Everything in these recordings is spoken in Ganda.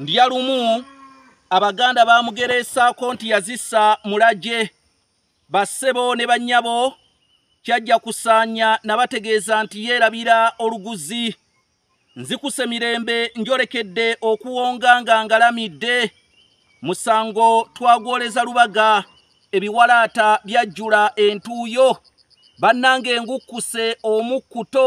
ndya lumu abaganda bamugereesaako nti yazisa mulagye bassebo ne bannyabo kyajja kusaanya nabategeeza nti yeerabira oluguzi nzikuse mirembe njolekedde okuwonga nga ngalamidde musango twagwoleza lubaga ebiwalaata byajjula entuuyo bannanga engukkuse omukkuto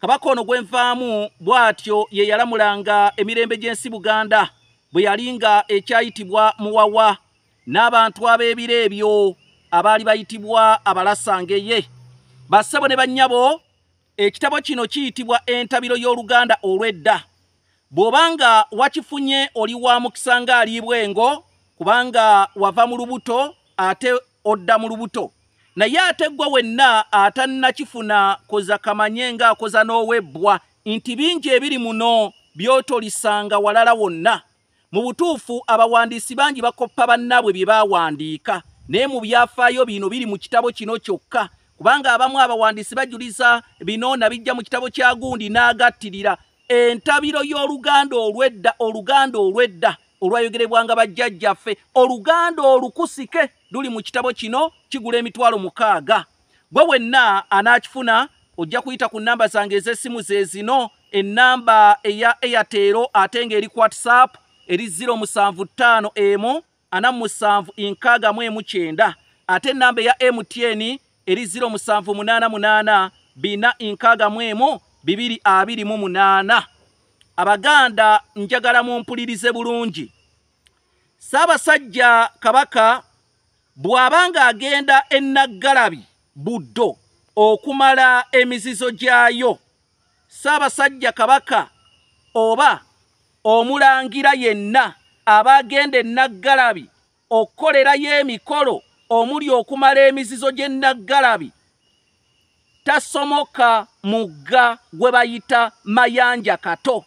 kabaka ono gwenvaamu bw'atyo ye yalamulanga emirembe gy'ensi buganda bwe yali nga ekyayitibwa muwawa n'abantu ab'ebiro ebyo abaali bayitibwa abalasangeye bassebo ne bannyabo ekitabo kino kiyitibwa entabiro y'oluganda olw'edda bw'oba nga wakifunye oli wa mukisa ng'aliibwa engo kubanga wava mu lubuto ate odda mu lubuto naye ate ggwe wenna atannakifuna koza kamanye ng'akoza n'owebbwa nti bingi ebiri muno by'otolisanga walala wonna Mu butuufu, abawandiisi bangi bakoppa bannaabwe bye baawandiika, naye mu byafaayo bino biri mu kitabo kino kyokka, kubanga abamu abawandiisi bajuliza bino na bijja mu kitabo kya gundi n'agattirira entabiro y'oluganda olw'edda, oluganda olw'edda olwayogerebwanga bajjajjaffe, oluganda olukusike luli mu kitabo kino kigula emitwalo mukaaga. gwe wenna anaakifuna ojja kuyita ku nnamba zange ez'essimu ze zino ennamba eya airtero ate ng'eri ku whatsapp eri 075 emu ana musanvu enkaaga mu emu kyenda ate ennamba eya mtn eri 078 bina enkaaga mu emu bibiri abiri mu munaana abaganda njagala mumpulirize bulungi ssaabasajja kabaka bw'aba ng'agenda e Naggalabi Buddo okumala emizizo gyayo, Ssaabasajja Kabaka oba Omulangira yenna aba agenda e Naggalabi okukolerayo emikolo omuli okumala emizizo gy'e Naggalabi, tasomoka mugga gwe bayita mayanja kato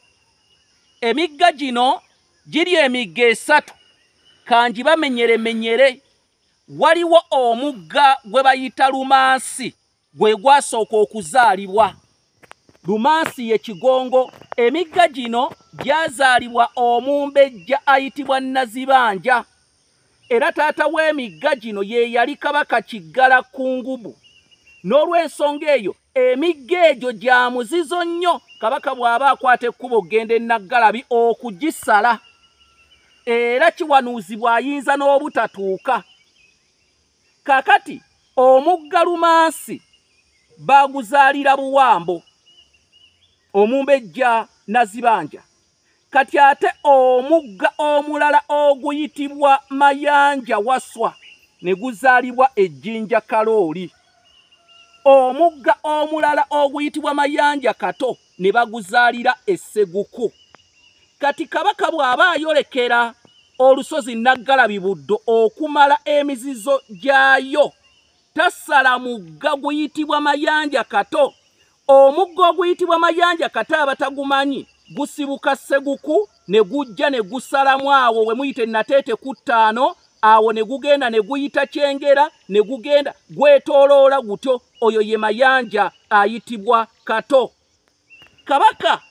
emigga gino giri emigga esatu kangi bamenyeremenyere waliwo omugga gwe bayita lumansi gwe gwasooka okuzaalibwa lumansi ye kigongo emigga gino gyazaalibwa omumbejja ayitibwa nazibanja Era taata w'emigga gino ye yali kabaka Kiggala Kkungubu. N'olw'ensonga eyo, emigga egyo gya muzizo nnyo kabaka bw'aba akwata ekkubo okugenda e Naggalabi okugisala. Era kiwanuuzibwa ayinza n'obutatuuka. Kaakati omugga Lumansi baaguzaalira Buwambo, Omumbejja Nazibanja. kati ate omugga omulala oguyitibwa mayanja waswa ne guzaalibwa ejjinja kalooli omugga omulala oguyitibwa mayanja kato ne baguzaalira esseguku kati kabaka bw'aba ayolekera olusozi naggalabi buddo okumala emizizo gyayo tasala mugga guyitibwa mayanja kato Omugga oguyitibwa Mayanja kata abatagumanyi gusibuka Seguku ne gujja ne gusalamu awo we muyite Nateete ku ttaano awo ne gugenda ne guyita Kyengera ne gugenda gwetooloola gutyo oyo ye Mayanja ayitibwa Kato. Kabaka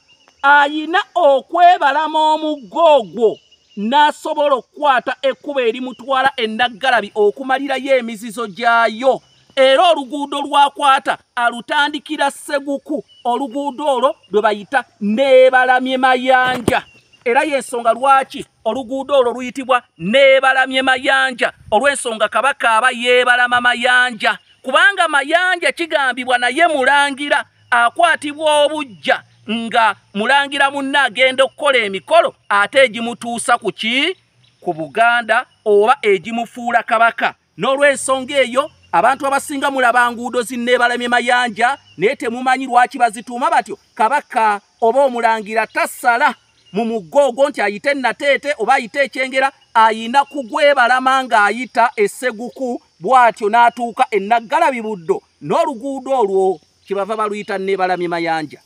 ayina okwebalama omugga ogwo n'asobola okukwata ekkubo erimutwala e Naggalabi okumalirayo emizizo gyayo. era oluguudo lwakwata alutandikira seguku oluguudo olwo lwe bayita neebalamye mayanja era yensonga lwaki oluguudo olwo luyitibwa neebalamye mayanja olw'ensonga kabaka aba yeebalama mayanja kubanga mayanja kigambibwa naye mulangira akwatibwa obujja nga mulangira munne agenda okukola emikolo ate egimutuusa ku ki ku buganda oba egimufuula kabaka n'olw'ensonga eyo abantu abasinga mulaba nguudo zinneebalamye mayanja naye temumanyi lwaki bazituuma batyo kabaka oba omulangira tasala mu muggo ogwo nti ayite nateete oba ayite ekyengera ayina kugwebalama ng'ayita esseguku bw'atyo n'atuuka ennaggalabi buddo n'oluguudo olwo kyebava baluyita nneebalamye mayanja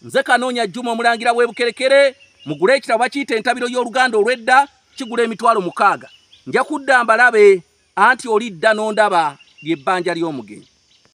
nze kanoonya jjuma omulangira w'ebukerekere mugule ekitabo bakiyita entabiro y'oluganda olw'edda kigula emitwalo mukaaga nja kudda mbalabe anti olidda n'ondaba ly'ebbanja ly'omugenyi